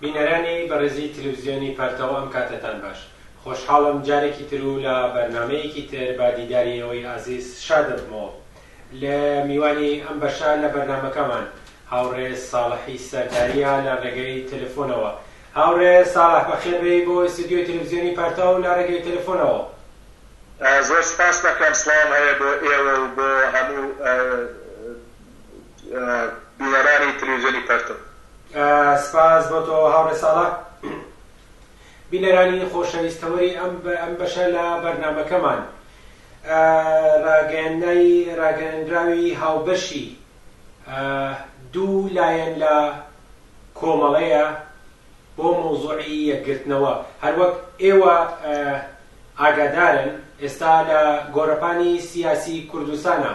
بینەرانی بەڕێزی تلویزیۆنی پەرتەو ئەم کاتەتان باش. خۆشحاڵم جارێکی تر و لە بەرنامەیەکی تر بە دیداری ئێوەی ئازیز شاد دەبمەوە. لە میوانی ئەم بەشە لە بەرنامەکەمان هاوڕێ ساڵحی سەرداریە لە ڕێگەی تەلەفۆنەوە. هاوڕێ ساڵح بەخێر بێی بۆ ئیستودیۆی تلویزیۆنی پەرتەو لە ڕێگەی تەلەفۆنەوە. زۆر سپاست دەکەم. سڵاوم هەیە بۆ ئێوە و بۆ هەموو بینەرانی تلویزیۆنی پەرتەو. سپاس بۆ تۆ هاوڕێ ساڵح. بینەرانی خۆشەویست تەوەری ئەم ئەم بەشە لە بەرنامەکەمان ڕاگەیاندنی ڕاگەیاندراوی هاوبەشی دوو لایەن لە کۆمەڵەیە بۆ مەوزوعی یەکگرتنەوە هەروەک ئێوە ئاگادارن ئێستا لە گۆڕەپانی سیاسی کوردستانا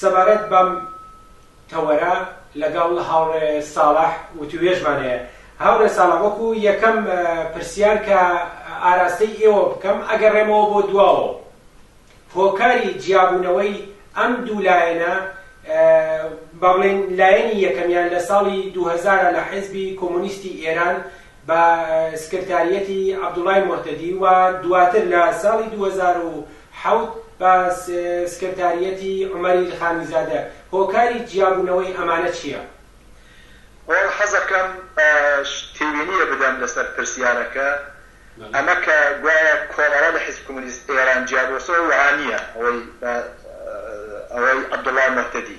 سەبارەت بەم تەوەرە لەگەڵ هاوڕێ ساڵح وتووێژمان هەیە. هاوڕێ ساڵح وەکو یەکەم پرسیار کە ئاراستەی ئێوە بکەم ئەگەڕێمەوە بۆ دواوە و هۆکاری جیابوونەوەی ئەم دوو لایەنە با بڵێین لایەنی یەکەمیان لە ساڵی دوو هەزار لە حیزبی کۆمۆنیستی ئێران بە سکرتاریەتی عەبدوڵای موهتەدی و دواتر لە ساڵی دوو هەزار و حەوت بە سکرتاریەتی عومەر ئیلخانیزادە، هۆکاری جیابوونەوەی ئەمانە چیە؟ وەڵا حەزەکەم تێبینیە بدەم لەسەر پرسیارەکە، ئەمە کە گوایە کۆمەڵە لە حیزب کمونیست ئێران جیابۆسەوە وەها نیە، ئەوەی ئەوەی عەبدوڵای موهتەدی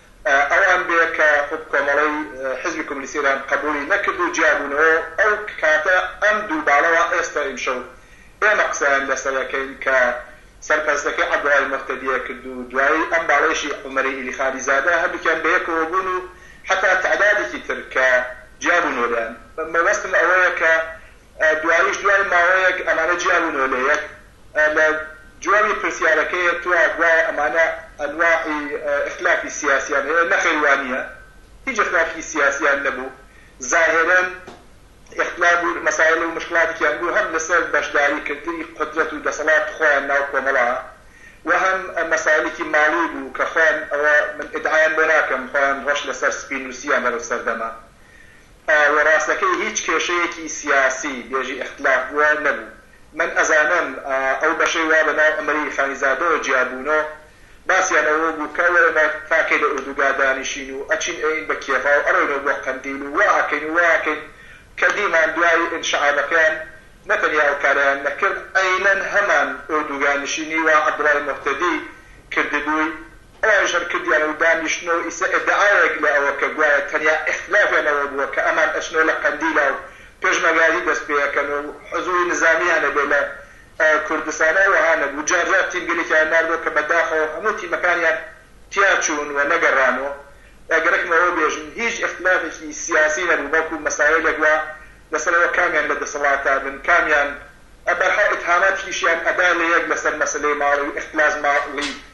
ئەوان بێ کە خود کۆمەڵەی حیزبی کۆمۆنیستی ئێران قەبووڵی نەکرد و جیا بوونەوە و ئەو کاتە ئەم دوو باڵەوە ئێستا ئیمشەو ئێمە قسەیان لە سەر ئەکەین کە سەرپەرستەکەی عەبدوڵای موهتەدیە کرد و دوایی ئەم باڵەیشی عومەری ئیلیخانی زادە هەردووکیان بە یەکەوە بوون و حەتا تەعدادێکی تر کە جیا بوونەوە لێیان مەبەستم ئەوەیە کە دواییش دوای ماوەیەک ئەمانە جیا بوونەوە لە یەک لە جوابی پرسیارەکەی تۆ گوایە ئەمانە ئەنواعی ئیختلافی سیاسیان هەیە، نەخێر وانیە هیچ ئیختلافێکی سیاسیان نەبوو زاهرەن ئیختلاف بوو مەسایل و مشکلاتێکیان بوو هەم لەسەر بەشداری کردنی قودرەت و دەسەڵات خۆیان ناو کۆمەڵا و هەم مەسایلێکی ماڵی بوو کە خۆیان ئەوە من ئیدعایان بۆ ناکەم خۆیان ڕەش لەسەر سپی نووسیان لەرەو سەردەمە و ڕاستەکەی هیچ کێشەیەکی سیاسی بێژی ئیختلاف بووە نەبوو. من ئەزانم ئەو بەشەی وا بە ناو ئەمری خانیزادەوە جیا بوونۆ، باسیان ئەوە بوو کە وەرەنە تاکێ لە ئوردوگا دانیشین و ئەچین ئەیین بە کێڤا و ئەڕۆینەوە بۆ قەندیل و وا ئەکەین و وا ئەکەین کە دیمان دوای ئینشعابەکەیان نە تەنیا ئەو کارەیان نەکرد، عەینەن هەمان ئوردوگا نشینی وا عەبدوڵای موهتەدی کردبووی. ئەوان شەر کردیانە و دانیشتنەوە و ئیسە ئیدعایەک لە ئەوە کە گوایە تەنیا ئیختلافیان ئەوە بووە کە ئەمان ئەچنەوە لە قەندیلا و پێشمەرگایەتی دەست پێ ئەکەن و حزووری نزامییان ئەبێ لە کوردستانا وەها نەبوو جار جار تیمگەلێکیان ناردەوە کە بە داخەوە هەموو تیمەکانیان تیا چوون و نەگەڕان و گەرەکم ئەوە بێژم هیچ ئیختلافێکی سیاسی نەبوو بەڵکوو مەسایلێک وا لە سەر ئەوە کامیان لە دەسەڵاتا بن کامیان بەرحاڵ ئیتهاماتیشیان ئەدا لە یەک لە سەر مەسەلەی ماڵی و ئیختلاس ماڵی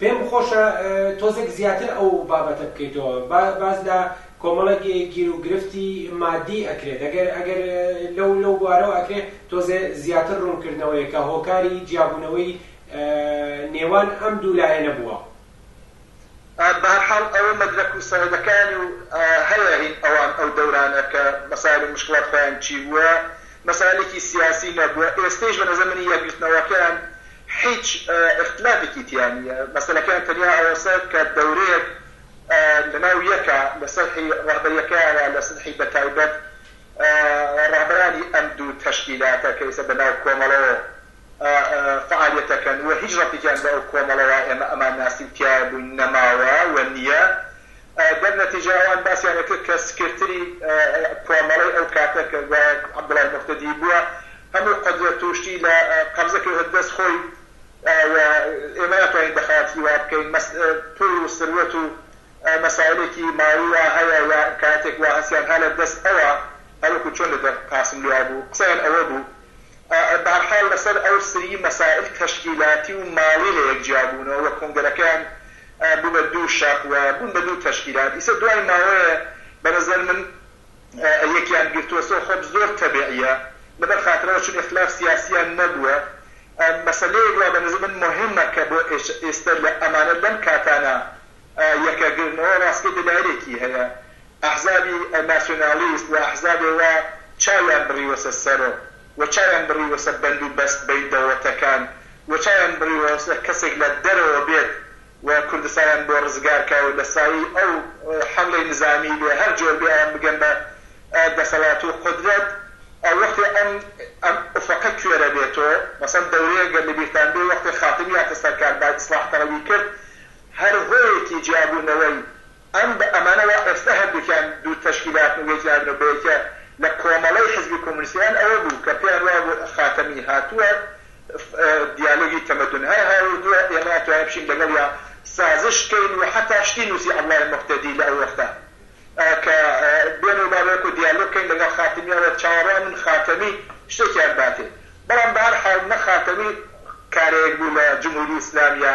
پێم خۆشە تۆزێک زیاتر ئەو بابەتە بکەیتەوە با باس لە کۆمەڵێک گیر و گرفتی مادی ئەکرێت ئەگەر ئەگەر لەو لەو بوارەوە ئەکرێ تۆزێ زیاتر ڕوون کردنەوەیە کە هۆکاری جیابوونەوەی نێوان ئەم دوو لایەنە بووە. بەهەرحاڵ ئەوە مەدرەک و سەنەدەکانی و هەیە هین ئەوان ئەو دەورانە کە مەسایل و موشکڵات خۆیان چی بووە مەسایلێکی سیاسی نەبووە ئێستەیش بە نەزەر من یەکگرتنەوەکەیان هیچ ئیختلافێکی تیا نییە، مەسەلەکەیان تەنیا ئەوەسە کە دەورەیەک لەناو یەکە لە سەرحی ڕەهبەریەکەیانا لە سرحی بەتایبەت ڕەهبەرانی ئەم دوو تەشکیلاتە کە ئیسە بەناو کۆمەڵەوە فەعالیەتەکەن و هیچ ڕەبتێکیان بە ئەو کۆمەڵەوە ئێمە ئەمان ناسین تیایە بووین نەماوە و نییە دەر نەتیجە ئەوان باسیان ئەکرد کە سکرتری کوامەڵەی ئەو کاتە کە گوایە عەبدوڵای موهتەدی بووە هەموو قودرەت و شتی لە قەبزە کەوتە دەست خۆی و ئێمە ناتوانین دەخاڵەتیی وا بکەین مەس پووڵ و سروەت و مەسایلێکی ماڵی وا هەیە یا ئیمکاناتێک وا هەس یان ها لە دەست ئەوە هەر وەکوو چۆن لە دەر قاسملوو وا بوو قسەیان ئەوە بوو بە هەر حاڵ لە سەر ئەو سریی مەسایل تەشکیلاتی و ماڵی لە یەک جیا بوونەوە و کۆنگرەکەیان بوونە دوو شاخ و بوون بە دوو تەشکیلات ئیسە دوای ماوەیە بە نەزەر من یەکیان گرتوەسەوە خۆب زۆر تەبعیە لەبەر خاترەوە چون اختلاف سیاسیان نەبووە مەسەلەیەک وا بە نەزەر من موهیمە کە بۆ ئیستە لە ئەمانە لەم کاتانە یەکە گرنەوە ڕاستکەی دەلایلێکی هەیە ئەحزابی ناسیونالیست و ئەحزابێ وا چاویان بڕیوەسە سەرۆ و چاویان بڕیوە سەر بەند و بەست بەین دەوڵەتەکان و چاویان بڕیوە سەر کەسێک لە دەرەوە بێت و کوردستانیان بۆ ڕزگار کا و لە سایەی ئەو حەملەی نزامی بێ هەر جۆر بێ ئەوان بگەن بە دەسەڵات و قودرەت ئەو وەختێ ئەم ئەم ئوفەقە کوێرە بێتۆ مەسەن دەورەیەک گەر لە بیرتان بێ وەختێ خاتمی هاتە سەر کار با ئیسڵاح تەڵەبی کرد هەر هۆیەکی جیابوونەوەی ئەم بە ئەمانەوە ئێستە هەردووکیان دوو تەشکیلاتن و یەکیان هاتنە بە یەکێ لە کۆمەڵەی حیزبی کۆمۆنیست ئێران ئەوە بوو کە پێیان وابوو خاتەمی هاتووە دیالۆگی تەمەدون هەر هاوردووە ئێمەیان توانیوە بچین لەگەڵیا سازش کەین و حەتا شتی نووسی عەبدوڵای موهتەدی لە ئەو وەختە کە بێن و با وەکوو دیالۆگ کەین لەگەڵ خاتەمی ئەوە چاوەڕوانن خاتەمی شتێکیان باتێ بەڵام بە هەر حاڵ نە خاتەمی کارێک بوو لە جمهوری ئیسلامییە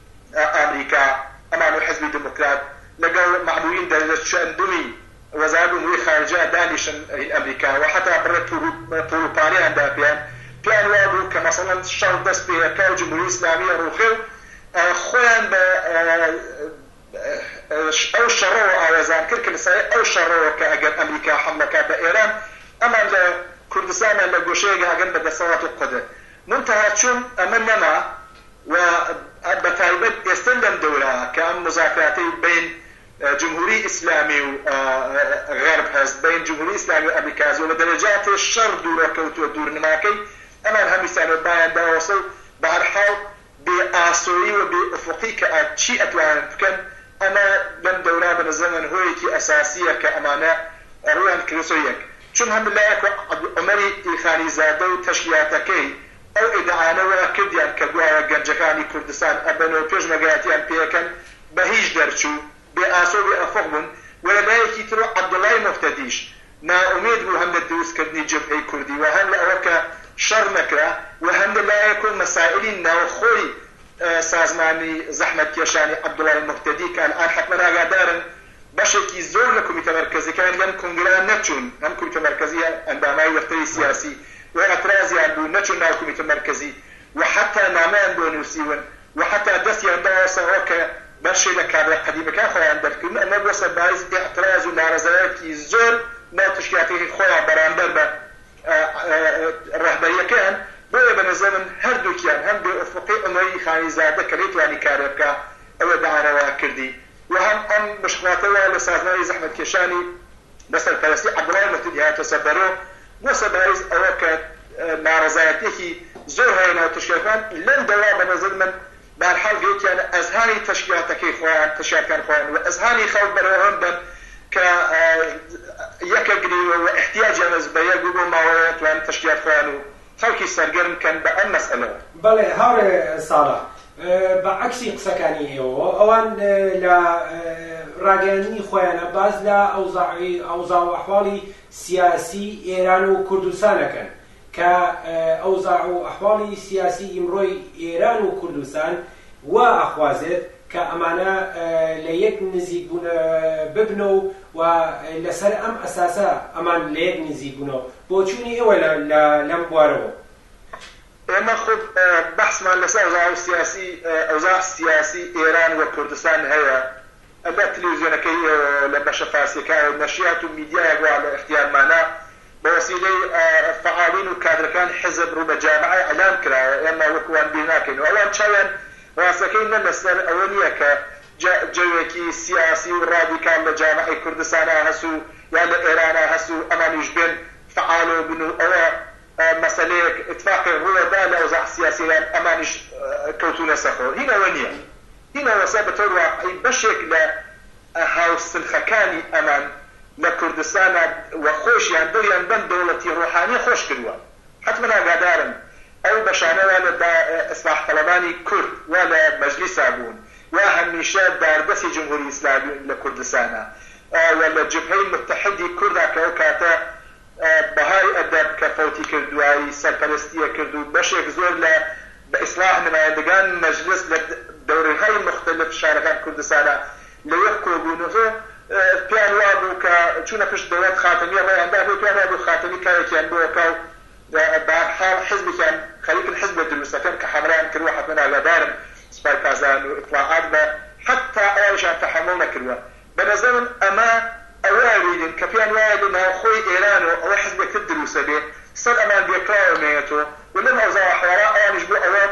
ئامریکا، ئەمان و حیزبی دموکرات لەگەڵ مەعبوین دەرچەن بوین وەزارەت ئوموری خارجە دانیشن هین ئەمریکا و حەتا بڕێ پوڵ و پارەیان دا پێیان، پێیان وابوو کە مەسەڵەن شەڕ دەس پێ ئەکا و جمهوری ئیسلامی ئەڕوخێ و خۆیان بە ئەو شەڕەوە ئاوێزان کرد کە لەسایەی ئەو شەڕەوە کە ئەگەر ئەمریکا حەملە کا بە ئێران ئەمان لە کوردستان یان لە گۆشەیەک ئەگەن بە دەسەڵات و قودر مونتەها چون ئەمە نەما و بە تایبەت ئێستا لەم دەورە کە ئەم موزاکراتەی بەین جمهوری ئیسلامی و غەرب هەست، بەین جمهوری ئیسلامی و ئەمریکاز و بە دەرەجاتێ شەڕ دوورە کەوتووە دوورنماکەی ئەمان هەمیسان و بایان داوەسە و بە هەر حاڵ بێ ئاسۆیی و بێ ئوفوقی کە ئا چی ئەتوانن بکەن ئەمە لەم دەورە بە نەزەر من هۆیەکی ئەساسیە کە ئەمانە ڕوویان کردۆتە یەک چون هەم لایەک عومەری ی خانی زادە و تەشکیلاتەکەی ئەو ئیدعایانە وا کردیان کە گوایە گەنجەکانی کوردستان ئەمن و پێشمەرگایەتیان پێکەن، بە هیچ دەرچوو، بێ ئاسۆ و بێ ئەفق بوون و لە لایەکی تر و عەبدوڵای موهتەدیش نائومێد بوو هەم لە دروستکردنی جبهەی کوردی و هەم لە ئەوە کە شەڕ نەکرا و هەم لە لایەک و مەسائیلی ناوخۆی سازمانی زەحمەتکێشانی عەبدوڵای موهتەدی کە ئەلئان حەتمەن ئاگادارن بەشێکی زۆر لە کومیتە مەرکەزیەکان لەم کونگرە نەچوون، ئەم کومیتە مەرکەزیە ئەندامای دەفتەری سیاسی و ئەترازیان بوو نەچوون ناو کومیتە مەرکەزی و حەتا نامەیان بۆ نوسیون و حەتا دەستیان دایەسە ئەوە کە بەشێ لە کادرە قەدیمەکان خۆیان دەرکردن ئەمە بوە سە بایس ئیعتراز و نارەزایەتی زۆر لە تشکیلاتەکەی خۆیان بەرامبەر بە رەهبەریەکەیان بۆیە بە نەزەر من هەردوکیان هەم بێ ئوفقی عومەری خانی زادە کە نەیتوانی کارێ بکا ئەوە داعا رەوا کردی و هەم ئەم بشکاتەوە لە سازمانی زەحمەتکێشانی بە سەرپەرەستی عەبدوڵای مەهدی هاتە سەر دەرۆ بووە سەرباریز ئەوە کە نارەزایەتیەکی زۆر هەیە ناو تەشکیلاتەکان لەم دەوە بە نەزەر من بە هەر حال گەیتیانە ئەزهانی تەشکیلاتەکەی خۆیان تەشکیلاتکان خۆیان و ئەزهانی خەڵک بەرەو ئەوە دەن کە یەکە گرێ و ئیحتیاجیان هەس بە یەک و بۆ ماوەیە توانن تەشکیلات خۆیان و خەڵکی سەرگەرم بکەن بە ئەم مەسەلەوە. بەڵێ هاوڕێ ساڵح، بە عەکسی قسەکانی ئێوەوە، ئەوان لە ڕاگەیاندنی خۆیانا باس لە ئەوزاعی، ئەوزاع و ئەحواڵی سیاسی ئێران و کوردستان ئەکەن، کە ئەوزاع و ئەحواڵی سیاسی ئیمڕۆی ئێران و کوردستان وا ئەخوازێت کە ئەمانە لە یەک نزیک ببنەوە و لەسەر ئەم ئەساسە ئەمان لە یەک نزیک بوونەوە. بۆچوونی ئێوە لە لەم بوارەوە؟ ئێمە خۆ بەحسمان لەسەر ئەوزاو سیاسی ئەوزاع سیاسی ئێران و کوردستان هەیە، ئەگەر تلیوزیۆنەکەی ئێوە لە بەشە فارسیەکایەو نەشیات و میدیایەک وا لە ئیختیارمانە بە وەسیلەی فەعالین و کادرەکانی حیزب ڕوو بە جامعە ئیعلام کراوە ئێمە وەکو وان بیر ناکەین و ئەوان چاویان ڕاستەکەی نە لەسەر ئەوە نیە کە جەوێکی سیاسی و ڕادیکال لە جامعەی کوردستانا هەس و یا لە ئێرانا هەس و ئەمانیش بێن فعال و بن و ئەوە مەسەلەیەک ئیتفاقێک ڕووە دا لە ئەوزاع سیاسیە یان ئەمانیش کەوتوونەسە خۆ هین ئەوە نیە هین ئەوەسە بە تەور واقعی بەشێک لە هاو سنخەکانی ئەمان لە کوردستانا وە خۆشیان دڵیان بەم دەوڵەتی ڕۆحانیە خۆش کروە. حەتمەن ئاگادارن ئەو بەشانە وا لە ئیسلاح تەڵەبانی کورد وا لە مەجلیسا بوون وا هەمیشە داردەسی جمهوری ئیسلامی لە کوردستانا و لە جبهەی متحدی کوردا کە ئەو کاتە بەهای ئەدەب کە فەوتی کرد دوای سەرپەرستیە کرد و بەشێک زۆر لە بە ئیسلاح نمایندگان مەجلس لە دەورەهای موختەلف شارەکان کوردستانە لە یەک کۆبوون و پێیان وابوو کە چوونە پشت دەوڵەت خاتەمی ڕێیان دابێت پێیان وابوو خاتەمی کارێکیان بۆ ئەکا و بەهەرحاڵ حزبێکیان خەریکن حزب لە دروست ئەکەن کە حەملەیان کردووە حەتمەن ئاگادارن سوپای پاسداران و ئیتڵاعات بە حەتتا ئەوانیشیان تەحەموڵ نەکردووە بەنەزەرم ئەمە ئەوە ئەوینن کە پێیان وایە لە ناوخۆی ئێرانەوە ئەوە حزبێک تر دروست ئەبێ سەر ئەمان بێکراوە مێەتۆ و لەم ئەوزاعە حواڵە ئەوانیش بۆ ئەوە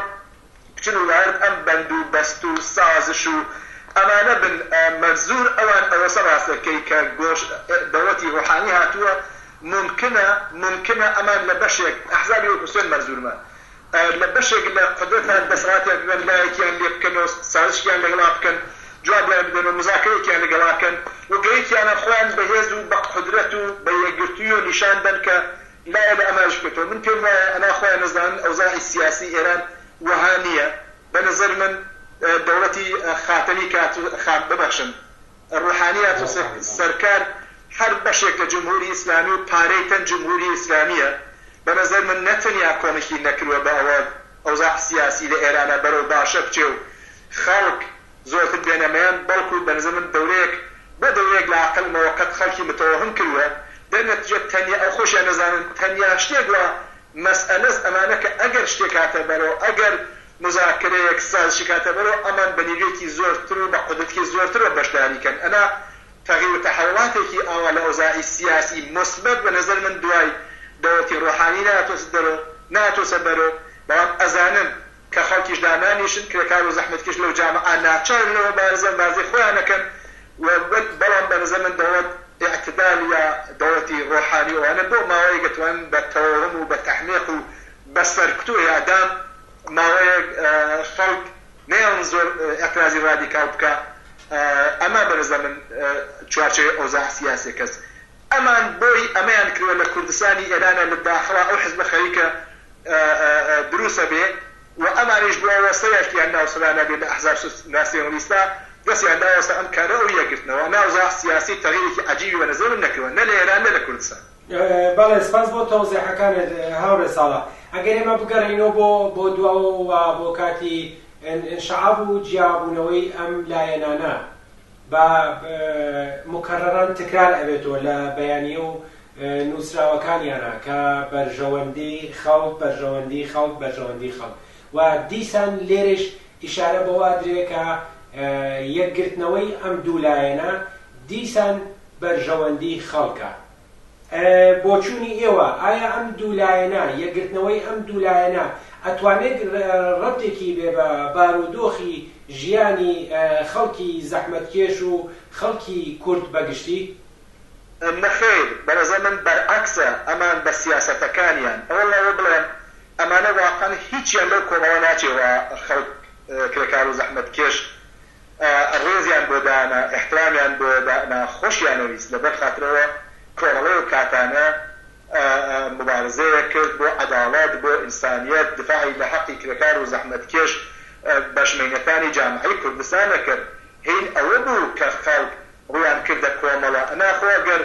بچن و لەئەرد ئەم بەند و بەست و سازش و ئەمانە بن مەنزور ئەوان ئەوەسە ڕاست ئەکەی کە گۆش دەوڵەتی ڕوحانی هاتووە مومکنە مومکنە ئەمان لە بەشێک ئەحزابی وەک حوسێن مەنزورمان لە بەشێک لە قودرەتان دەسەڵاتیان ببەن لایەکیان لێ بکەن و سازشکیان لەگەڵا بکەن جوابیان بدەن و موزاکەرەیەکیان لەگەڵا کەن و گەیکیانە خۆیان بە هێز و بە قودرەت و بە یەکگرتوویی و نیشان دەن کە لایە لە ئەمایش بکرێتەوە من پێم وایە ئەنا خۆیان نەزانن ئەوزاعی سیاسی ئێران وەها نییە بە نەزەر من دەوڵەتی خاتەمی کات خان ببەخشن ڕوحانی هاتۆ سەرکار هەر بەشێک لە جمهوری ئیسلامی و پارەی تەن جمهوری ئیسلامیە بە نەزەر من نە تەنیا کۆمکی نەکروە بە ئەوە ئەوزاع سیاسی لە ئێرانا بەرەو باشە بچێ و خەڵک زۆرتر بێنە مەیان بەڵکو بە نەزەر من دەورەیەک بۆ دەورەیەک لە ئەقەلمەوە قەت خەڵکی متەوەهم کروە دەر نەتیجە تەنیا ئەو خۆشیان نەزانن تەنیا شتێک وا مەسئەلەس ئەمانە کە ئەگەر شتێک هاتە بەرەو ئەگەر موزاکرەیەک سازشی کاتە بەرۆ ئەمان بە نیوێکی زۆر تر و بە قودرەتکی زۆر تر وە بەشداری کەن ئەنا تەغیر و تەحەوڵاتێکی ئاوا لە ئۆزاعی سیاسی موسبەت بە نەزەر من دوای دەوڵەتی ڕۆحانی ناتۆسە دەرۆ ناتۆسە بەرۆ بەڵام ئەزانم کە خەڵکیش دانانیشن کرێکار و زەحمەتکێش لەو جامعە ناچارن لەوە بارزە بازی خۆیانە کەن و بەڵام بە نەزەر من دەوڵەت ئیعتدال یا دەوڵەتی ڕۆحانی ئەوانە بۆ ماوەیەگە توانن بە تەوەهم و بە تەحمیق و بەس فەرکتۆ یادام ماوەیەک خەڵک نەیەڵن زۆر ئیعترازی ڕادیکاڵ بکا ئەمە بەنزەمن چوارچێوەی ئەوزاع سیاسیە کەس ئەمان بۆی ئەمەیان کردوە لە کوردستانی ئێرانە لە داخڵا ئەو حزبە خەریکە دروس ئەبێ و ئەمانیش بۆ ئەوە سەرێکیان ناو سەرانە بێ لە ئەحزاب ناسیۆنالیستە دەسیان داوەسە ئەم کارە ئەو یەکگرتنەوە ئەمە ئەوزاع سیاسی تەغیرێکی عەجیبی بەنزەمن نەکردوە نە لە ئێران نە لە کوردستان. بەڵێ سپاس بۆ تەوزیحەکانت هاوڕێ ساڵح. ئەگەر ئێمە بگەڕێینەوە بۆ بۆ دواوە و بۆ کاتی انشعاب و جیابوونەوەی ئەم لایەنانە بە مکررا تکرار ئەبێتەوە لە بەیانییە و نووسراوەکانیانا کە بەرژەوەندی خەڵک، بەرژەوەندی خەڵک، بەرژەوەندی خەڵک و دیسان لێرەیش ئیشارە بەوە ئەدرێ کە یەکگرتنەوەی ئەم دوو لایەنە دیسان بەرژەوەندیی خەڵکە. بۆچوونی ئێوە، ئایا ئەم دوو لایەنە، یەکگرتنەوەی ئەم دوو لایەنە ئەتوانێت رەبتێکی بێ بە بارودۆخی ژیانی خەڵکی زەحمەتکێش و خەڵکی کورد بە گشتی؟ نەخێر، بەڕێزە من بەرعەکسە ئەمان بە سیاسەتەکانیان، ئەوە لەوە بڵێم ئەمانە واقعەن هیچیان لەو کۆمەڵە ناچێ و خەڵک کرێکار و زەحمەتکێش ڕێزیان بۆ دانا، ئیحترامیان بۆ دانا، خۆشیانەویست، لەبەر خاتر ئەوە کۆمەڵە و کاتانە موبارزەیەک کرد بۆ عەداڵەت، بۆ ئینسانیەت، دفاعی لە حەقی کرێکار و زەحمەتکێش بەشمەینەکانی جامعەی کوردستان ئەکرد، هین ئەوە بوو کە خەڵک ڕوویان کردە کۆمەڵە، ئەنا خۆ گەر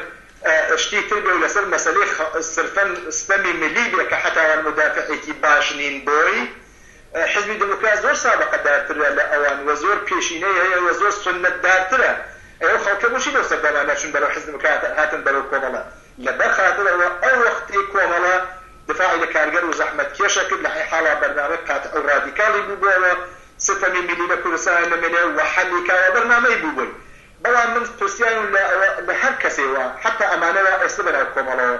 شتی تر بێ و لەسەر مەسەلەی سرفەن ستەمی ملی بێ کە حەتاوان مودافعێکی باش نین بۆی، حیزبی دێموکرات زۆر سابەقە دارترە لە ئەوان و زۆر پێشینەی هەیە و زۆر سوننەت دارترە ئەی ئەو خەڵکە بۆچی لەو سەردەما نەچون بەرەو حیزب دێموکرات هاتن بەرەو کۆمەڵە لە بەر خاتر ئەوە ئەو وەختەی کۆمەڵە دفاعی لە کارگەر و زەحمەت کێشە کرد لە حی حاڵا بەرنامەی قاتع و رادیکاڵی بوبۆوە سەتەمی میلی لە کوردستان نەمێنێ و حەلی کاوە بەرنامەی بوبۆی بەڵام من پرسیارم لە ئەوە لە هەر کەسێ وا حەتا ئەمانە وا ئێستە بەناو کۆمەڵەوە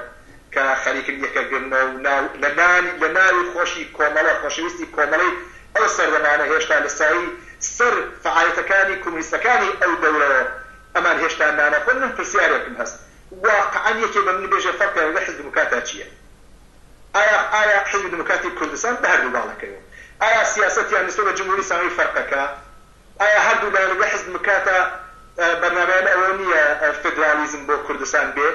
کە خەریکن یەکە گرنەوە و ناو لە نانی لە ناوی خۆشی کۆمەڵە خۆشەویستی کۆمەڵەی ئەو سەردەمانە هێشتا لە سایەی سەر فەعالەتەکانی کۆمۆنیستەکانی ئەو دەورەوە ئەمان هێشتا نان ئەخۆن من پرسیارێکم هەست واقعەن یەکێ بە من بێژێ فەرقێ لەگەڵ حیزبی دموکراتا چیە ئایا ئایا حیزبی دموکراتی کوردستان بە هەردوو باڵەکەیەوە ئایا سیاسەتیان نسبەت بە جمهوری ئیسامی فەرقەکە؟ ئایا هەردوو لایەن و دوو حزب مکاتە بەرنامەیان ئەوە نییە فیدرالیزم بۆ کوردستان بێ؟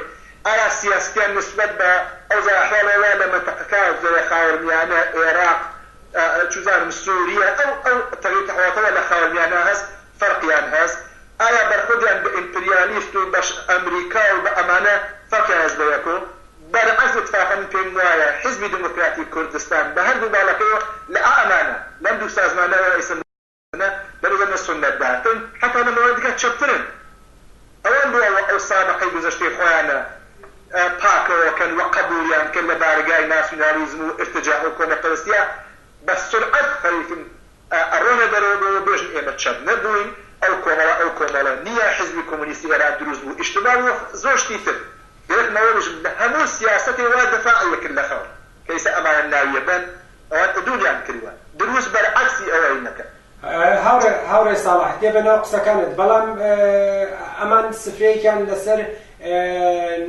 ئایا سیاسەتیان نیسبەت بە ئەوجا ئەحواڵێ وا لە مەتەقەکە زەرێ خاوەرمیانە، ئێراق، چوزانم سوریە ئەو ئەو تەغیر تەحواتەوە لە خاوەرمیانە هەس فەرقیان هەس؟ ئایا بەرخوردیان بە ئیمپریالیست و بەش ئەمریکا و بە ئەمانە فەرقیان هەس بە یەک و بەرعەکس ئیتفاقەن من پێم وایە حزبی دموکراتی کوردستان بە هەردوو باڵەکەیەوە لە ئا ئەمانە لەم دوو سازمانەوە ئیسە ئەمە بەرزە نە سوننەت دارتن حەتا لە مەوانی دیکە چەپترن ئەوان بۆ ئەوە ئەو سابقەی گوزەشتەی خۆیانە پاکەوە کەن وە قەبولیان کەن لە بارەگای ناسیونالیزم و ئیرتجاع و کۆمە پەرستیە بە سورعەت خەریکن ئەڕۆنە دەرەوە بۆ ئەوە بێژن ئێمە چەپ نە بووین ئەو کۆمەڵە ئەو کۆمەڵە نیە حیزبی کۆمۆنیستی ئێران دروست بوو ئیشتبا بوو وە زۆر شتی تر گەرەک مەوە بێژم لە هەموو سیاسەتێ وا دەفاعی ئەکرد لە خەڵک کەیسە ئەمانە ناویە بەن ئەوان ادوریان کردوە دروست بەرعەکسی ئەوەی نەکەن. هاوڕێ ساڵح دێ بەناو قسەکانت بەڵام ئەمان سفرەیەکیان لەسەر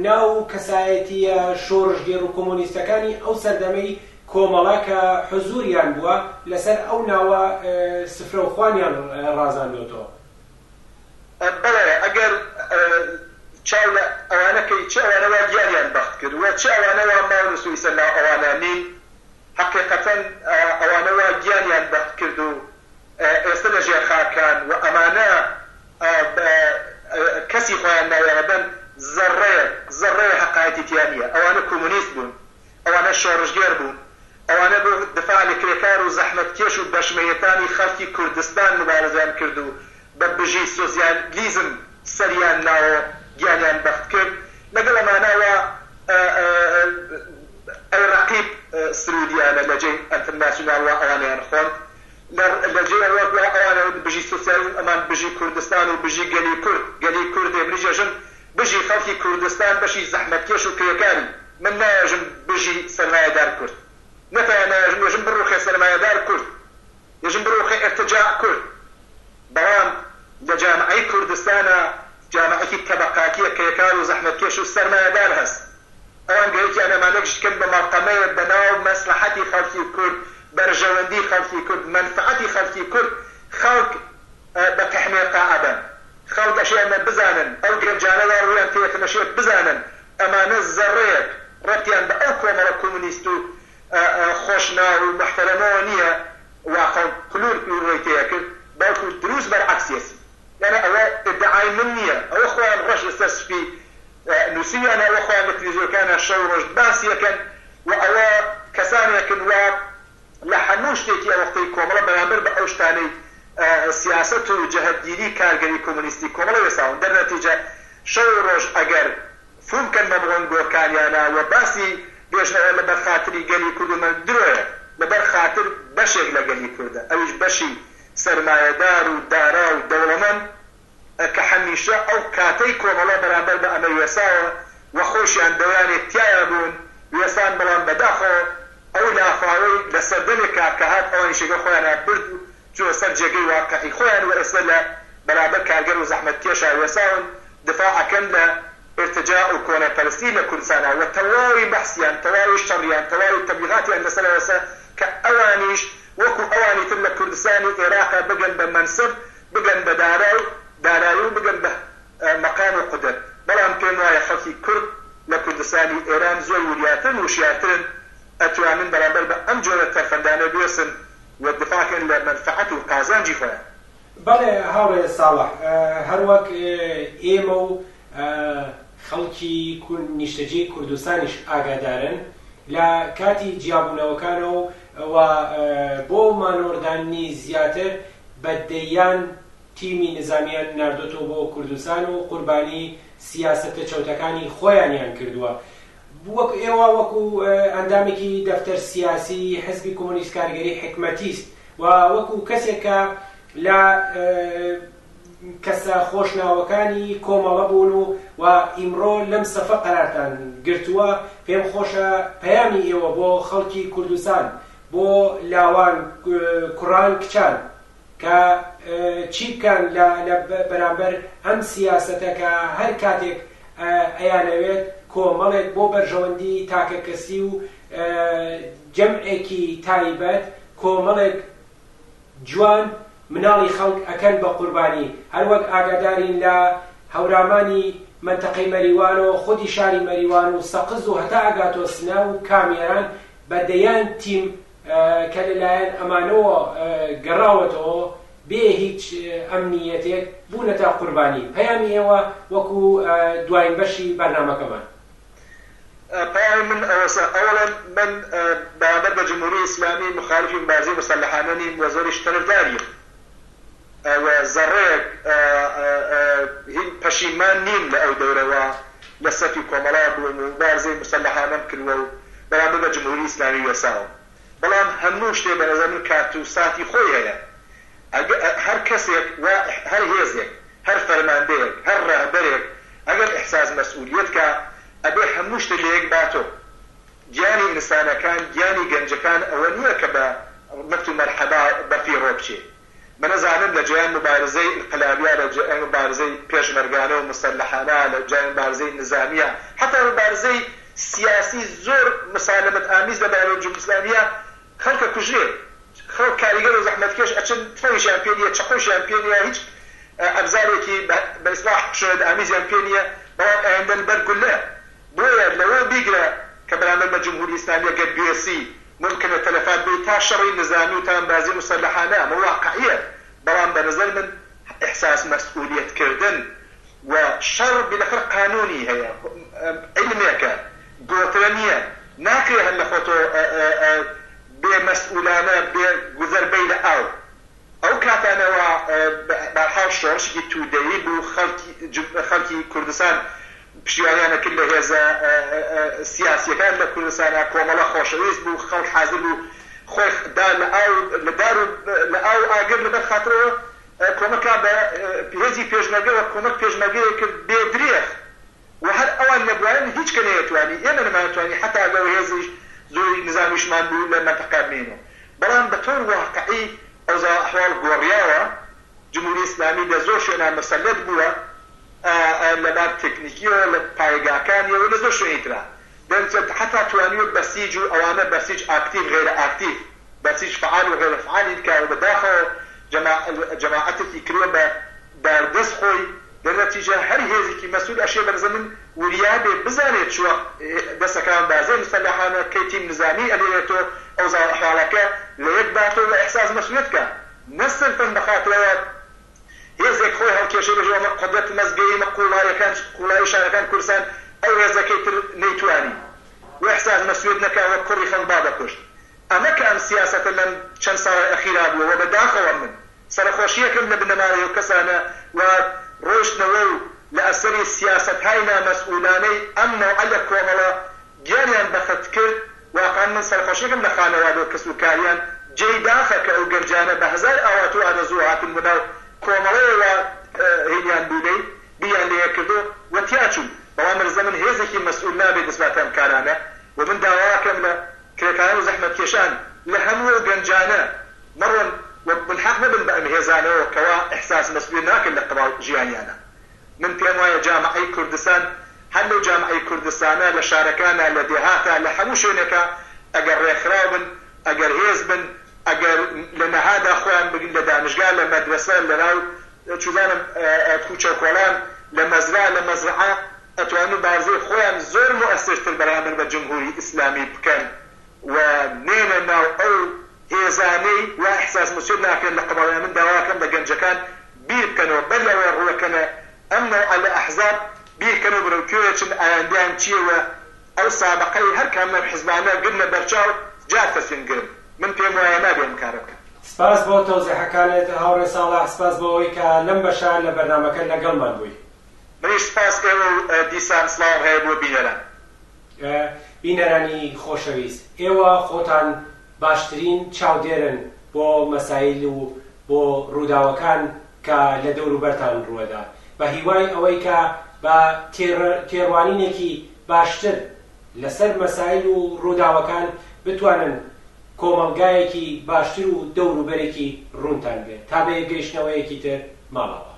ناو و کەسایەتییە شۆڕشگێڕ و کۆمۆنیستەکانی ئەو سەردەمەی کۆمەڵە کە حزووریان بووە لەسەر ئەو ناوە سفرە و خوانیان ڕازاندۆتەوە. بەڵێ ئەگەر چاو لە ئەوانە کەی چ ئەوانە وا دیاریان بەخت کرد و چ ئەوانە وا ماون و سویسە ناو ئەوانە نین، هەقیقەتەن ئەوانە وا گیانیان بەخت کرد و ئێستە لە ژێر خاکان و ئەمانە کەسی خۆیان ناوێ هەبەن زەڕەیەک زەڕەیە هەقایەتی تیا نیە ئەوانە کومونیست بوون ئەوانە شۆڕشگێر بوون ئەوانە بۆ دفاع لە کرێکار و زەحمەتکێش و بەشمەیەکانی خەڵکی کوردستان مبارزەیان کرد و بە بژی سۆسیالیزم سەریان ناوە و گیانیان بەخت کرد لەگەڵ ئەمانە وا ئەی ڕەقیب سروودیانە لە جێی ئەنترناسیونال وا ئەوانەیان خۆند لە جێی ئەوە وا ئەوانە وت بژی سۆسیالیزم ئەمان بژی کوردستان و بژی گەلی کورد گەلی کوردێ منیش ئەژم بژی خەڵکی کوردستان بەشی زەحمەتکێش و کرێکاری من نایەژم بژی سەرمایەدار کورد نەتەوە نایەژم ئێژم بڕووخێ سەرمایەدار کورد یەژن برۆخە ئێرتجاع کورد، بەڵام لە جامعەی کوردستانا جامعەکی تەبەقاتیە کە یەکار و زەحمەتکێش و سەرمایەدار هەس. ئەوان گەرەکیان ئەمانە گشت کەن بە مەڵکەمەێ بە ناو مەسڵەحەتی خەڵکی کورد، بەرژەوەندی خەڵکی کورد، مەنفەعەتی خەڵکی کورد خەڵک بە تەحمێقا ئەبەن. خەڵک ئەشێ ئەمە بزانن، ئەو گەنجانە وا ڕوویان تێ یەکن ئەشێ بزانن ئەمانە زەڕەێک ڕەبتیان بە ئەو کۆمەڵە کومنیست و خۆش ناو و موحتەرەمەوە نیە واقع پلور پلوروەی تێ ئەکرد بەڵکو دروست بەرعەکسیەتی یانێ ئەوە ئیدعای من نیە ئەوە خۆیان ڕەش لەسەر سپی نوسیویانە ئەوە خۆیان لە تلفزیۆکانیان شەو ڕۆژ باسی ئەکەن و ئەوە کەسانێکن وا لە هەموو شتێکی ئەوەختەی کۆمەڵە بەرامبەر بە ئەو شتانەی سیاسەت و جەهەتگیری کارگەری کۆمۆنیستی کۆمەڵە وێساون دەرنەتیجە شەو و ڕۆژ ئەگەر چونکە نەبڕن بۆ کاریانا و باسی دۆژمنەوە لەبەر خاتری گەلی کورد و مەرد درۆیە، لەبەر خاتر بەشێک لە گەلی کوردە ئەویش بەشی سەرمایەدار و دارا و دەوڵەمەن ە کە هەمیشە ئەو کاتەی کۆمەڵە بەرامبەر بە ئەمە وێساوە و خۆیشیان دەیانێت تیایا بوون وێسان بەڵام بەداخەوە ئەو لافاوەی لە سەردەمێک کار کە هات ئەوانیش یەکەو خۆیانان برد و چونە سەر جێگەی واقعی خۆیان و ئێستا لە بەرامبەر کارگەر و زەحمەتکێشا وێساون دفاع ئەکەن لە ئیرتجاع و کۆنەپەرستی لە کوردستانا وە تەواوی بەحسیان تەواوی شەڕیان تەواوی تەبلیغاتیان لەسەر ئەوەسە کە ئەوانیش وەکو ئەوانی تر لە کوردستانی ئێراقا بگەن بە مەنسب بگەن بە دارا و دارایی و بگەن بە مەقام و قودرەت بەڵام پێم وایە خەڵکی کورد لە کوردستانی ئێران زۆر وریاترن وشیارترن ئەتوانن بەرامبەر بە ئەم جۆرە تەرفەندانە بوێسن و دفاع کەن لە مەنفەعەت و قازانجی خۆیان. بەڵێ هاوڕێ ساڵح، هەروەک ئێمە و خەڵکی نیشتەجێی کوردستانیش ئاگادارن، لە کاتی جیابوونەوەکانەوە و بۆ مانۆڕداننی زیاتر بە دەیان تیمی نزامیان ناردۆتەوە بۆ کوردستان و قوربانی سیاسەتە چەوتەکانی خۆیانیان کردووە وەک ئێوە وەکو ئەندامێکی دەفتەر سیاسی حزبی کۆمۆنیست کارگەری حکمەتیست و وەکو کەسێک کە لە کەسە خۆشناوەکانی کۆمەڵە بوون و و ئیمڕۆ لەم سەفە قەرارتان گرتووە پێم خۆشە پەیامی ئێوە بۆ خەڵکی کوردستان بۆ لاوان کوڕان کچان کە چی بکەن لە لە بەرامبەر ئەم سیاسەتە کە هەر کاتێک ئەیانەوێت کۆمەڵێک بۆ بەرژەوەندی تاکە کەسی و جەمعێکی تایبەت کۆمەڵێک جوان مناڵی خەڵک ئەکەن بە قوربانی هەروەک ئاگادارین لە هەورامانی مەنتەقەی مەریوانەوە خودی شاری مەریوان و سەقز و هەتا ئەگاتۆ سنە و کامێران بە دەیان تیم کە لەلایەن ئەمانەوە گەڕاوەتەوە بێ هیچ ئەمنییەتێک بوونەتە قوربانی پەیامی ئێوە وەکو دواین بەشی بەرنامەکەمان. پەیامی من ئەوەسە ئەوەڵێم من بەرامبەر بە جمهوری ئیسلامی موخالیفی مبارزەی موسەلەحانە نیم و زۆریش تەرفداریم و زەڕەیەک هین پەشیمان نیم لە ئەو دەورە وا لە سەفی کۆمەڵا بووم و موبارزەی موسەلەحانەم کروە و بەرامبەر بە جمهوری ئیسلامی وێساوم بەڵام هەموو شتێ بە نەزەر من کات و ساتی خۆی هەیە ئەگ هەر کەسێک وا هەر هێزێک هەر فەرماندەیەک هەر ڕەهبەرێک ئەگەر ئیحساس مەسئولیەت کا ئەبێ هەموو شتێ لە یەک باتۆ گیانی ئینسانەکان، گیانی گەنجەکان ئەوە نییە کە بە مفت و مەرحەبا بەفی ڕۆ بچێ. منە زانم لە جێیان موبارزەی ئینقلابیە، لە جێیان موبارزەی پێشمەرگانە و موسەلەحانە، لە جێیان موبارزەی نیزامیە، حەتا موبارزەی سیاسی زۆر موسالەمەت ئامیز لە بەرامبەر جمهوری ئیسلامیە، خەڵک ئەکوژرێ، خەڵک کاریگەر و زەحمەتکێش ئەچن، تفەنگیشیان پێ نییە، چەقۆیشیان پێ نییە، هیچ ئەبزارێکی بە ئیسلاح خشونەت ئامیزیان پێ نییە، بەڵام ئایندەن بەر گوللە بۆیە لەوە بیگرە کە بەرامبەر بە جمهوری ئیسلامیە گەر بوێسی مومکنە تەلەفات بێی تا شەڕی نزامی و تاندبازی موسەلەحانە ئەمە واقعیە بەڵام بە نەزەر من احساس مسئولیت کردن و شەڕ بیلەخەر قانونی هەیە عیلمێکە گۆترە نیە ناکرێ هەر لە خۆتۆ بێ مسئولانە بێ گوزەر بەی لە ئاو. ئەو کاتانەوە بەرحاڵ شۆڕشێکی توودەیی بوو، خەڵکی کوردستان پشتیوانیان ئەکرد لە هێزە سیاسییەکان لە کوردستانا، کۆمەڵە خۆشەویست بوو، خەڵک حازر بوو خۆی دا لە ئاو و لە دار و لە ئاو و ئاگر لەبەر خاترەوە کۆمەکا بە هێزی پێشمەرگە و کۆمەک پێشمەرگەیەک کرد بێ درێغ. و هەر ئەوان نەبوایەن هیچ کە نەیەتوانی ئێمە نەمانتوانی حەتا ئەگەر هێزیش زۆری نزامیشمان بوو لە مەنتەقە بمێنێ بەڵام بە تەور واقعی ئەوزا و ئەحواڵ گۆڕیاوە جمهوری ئیسلامی لە زۆر شوێنا مسەلەت بووە لە بار تێکنیکیەوە لە پایەگاکانیەوە لە زۆر شوێنی ترا دەرچەت حەتا توانیوە بەسیج و ئەوانە بەسیج ئاکتیڤ غەیرە ئاکتیڤ بەسیج فەعال و غەیرە فەعالی بکا و بە داخەوە جەماعەتێکی کردوە بە داردەست خۆی لە نەتیجە هەر هێزیکی مەسول ئەشێ بەرزەمن وریا بێ بزانێ چوە دەسەکان بازێ مسەلەحانە کەی تیم نزامی ئەلێوێتۆ ئەوزاو ئەحواڵەکە لە یەک باتۆ وە ئیحساس مەسولیەت کا نە سرفەن بەخاتر ئەوە هێزێک خۆی هەڵکێشێ بێژێ وەمە قودرەت مەزگەیی مە قوڵایەکان قوڵایی شارەکان کورسان ئەو هێزە کەی تر نەیتوانی وە ئیحساس مەسولیەت نەکا وە کوڕی خەڵک با بەکوشت ئەمە کە ئەم سیاسەتە لەم چەن ساڵەی ئەخیرا بوە وە بە داخەوە من سەرەخۆشییەکەم لە بنەماڵەی ئەو کەسانە وات ڕۆشتنەوە و لە ئەسەری سیاسەتهای نامەسئولانەی ئەم نەوعە لە کۆمەڵە گیانیان بەخت کرد، واقعەن من سەرخۆشیەکەم لە خانەوادە و کەس و کاریان، جێی داخە کە ئەو گەنجانە بە هەزار ئاوات و ئارەزوو هاتن بۆ ناو کۆمەڵەوە وا هینیان بوونەی بیریان لێ کردو و تیاچوون، بەڵام رزە من هێزێکی مەسئول نابێ دەست باتە ئەم کارانە و من داواکەم لە کرێکارو زەحمەتکێشان لە هەموو ئەو گەنجانە مەڕۆن و ملحاق مەبن بە ئەم هێزانەوە کەوا ئیحساس مەسولیەت ناکەن لە قەباو ژیانیانا من پێم وایە جامەعەی کوردستان هەر لەو جامەعەی کوردستانە لە شارەکانا لە دێهاتا لە هەموو شوێنێکا ئەگەر ڕێکخراو بن ئەگەر هێز بن ئەگەر لە نەهادا خۆیان بگن لە دانشگا لە مەدرەسە لەناو چوزانم کوچە و کۆڵان لە مەزرا لە مەزرعە ئەتوان موبارزەی خۆیان زۆر موئەسر تر بەرامبەر بە جمهوری ئیسلامی بکەن و نێنە ناو ئەو هێزانەی وا ئیحساس مسیۆت ناکرێن لە قەباڵەیان من داواکەم لە گەنجەکان بیر بکەنەوە بەر لەوەی ڕوەکەنە ئەم نەوعە لە ئەحزاب بیر کەنەوە بەرەو کوێ ئەچن ئایەندەیان چیە و ئەو سابقەی هەر کام لەم حزبانە گرنە بەرچاو جا تەسمیم گرن. من پێم وایە نابێ ئەم کارە بکەن. سپاس بۆ تەوزیحەکانت هاوڕێ ساڵح، سپاس بۆ ئەوەی کە لەم بەشە لە بەرنامەکە لەگەڵمان بووی. منیش سپاس ئێوە و دیسان سڵاوم هەیە بۆ بینەران. بینەرانی خۆشەویست، ئێوە خۆتان باشترین چاودێرن بۆ مەسایل و بۆ ڕووداوەکان کە لە دەوروبەرتان ڕووەدا، بە هیوای ئەوەی کە بە تێڕوانینێکی باشتر لەسەر مەسایل و ڕووداوەکان بتوانن کۆمەڵگایەکی باشتر و دەوروبەرێکی ڕوونتان بێت تا بە یەکگەیشتنەوەیەکی تر مامەڵە بکەن.